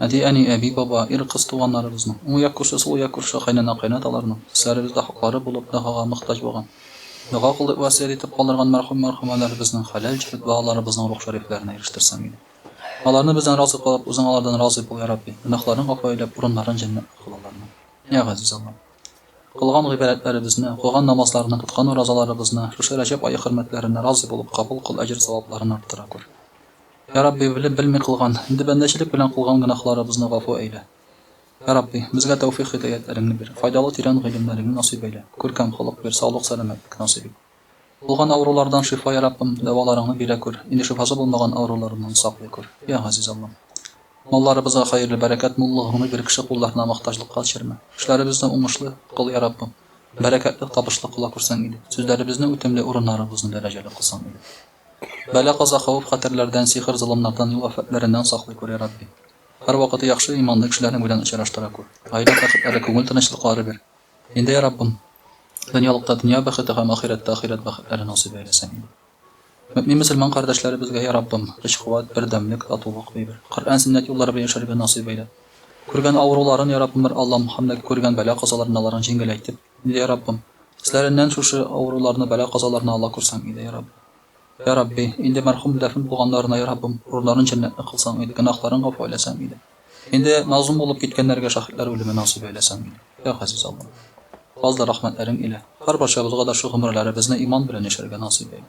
Әти, әни, әби, баба, ир, кыз туганнарыбызның, уң як күрше, сул як күрше, кайнана, кайнаталарның өсләребездә хаклары булып догага мохтаҗ булган, дога кылып васыять итеп калдырган мәрхүм, мәрхүмәләребезнең хәләл җефет балаларыбызның рух шәрифләренә ирештерсәң иде. Аларны бездән разый кылып, үзең алардан разый бул, я Рабби, гөнаһларын гафу әйләп, урыннарын җәннәттә кыл аларның. Я Газиз Аллам! Кылган гыйбадәтләребезне, укыган намазларны, тоткан уразаларыбызны шушы Рәҗәб ае хөрмәтләренә разый булып кабул кыл, әҗер-савапларын арттыра күр. Йә Рабби, белеп-белми кылган, инде бәндәчелек белән кылган гөнаһларыбызны гафу әйлә. Йә Рабби, безгә тәүфыйк-һидәятьләреңне бир, файдалы тирән гыйлемнәреңне насыйп әйлә, күркәм холык бир, саулык-сәламәтлек насыйп ит. Булган авырулардан шифа, Йә Раббым, дәваларыңны бирә күр, инде шифасы булмаган авыруларыннан саклый күр, Йә Газиз Аллам. Малларыбызга хәерле, бәрәкәт, муллыгыңны бир, кеше кулларына мохтаҗлыкка төшермә. Эшләребезне уңышлы кыл, Йә Раббым, бәрәкәтле, табышлы кыла күрсәң иде. Сүзләребезне үтемле, урыннарыбызны дәрәҗәле кылсаң иде. Бәла-каза, хавыф-хәтәрләрдән, сихер-золымнардан, юл-афәтләреннән саклый күр, я Рабби. Һәрвакыты яхшы, иманлы кешеләрнең белән очраштыра күр. Гаилә бәхетләре, күңел тынычлыклары бир. Инде, я Раббым, дөньялыкта дөнья бәхете һәм ахирәттә ахирәт бәхетләре насыйп әйләсәң иде. Мөэмин-мөселман кардәшләребезгә, я Раббым, көч-куәт, бердәмлек, татулык бибер. Коръән, сөннәт юллары белән яшәргә насыйп әйлә. Күргән авыруларын, я Раббым, бер Аллам, һәм дә күргән бәла-казаларын аларның җиңеләйтеп, Йа Раббым, эзләреннән шушы авыруларны, бәла-казаларны ала күрсәң иде, йа Раббым. Йа Рабби, инде мәрхүм дәфен булганнарына, йа Раббым, рурьларын җәннәтле кылсаң иде, гөнаһларын гафу әйләсәң иде. Инде мазлум булып киткәннәргә шаһитлар үлеме насыйп әйләсәң иде, йа Газиз Аллам. Фазлы рәхмәтләрең илә, һәрбарчабызга да шу гомерләребезне иман белән яшәргә насыйп әйлә.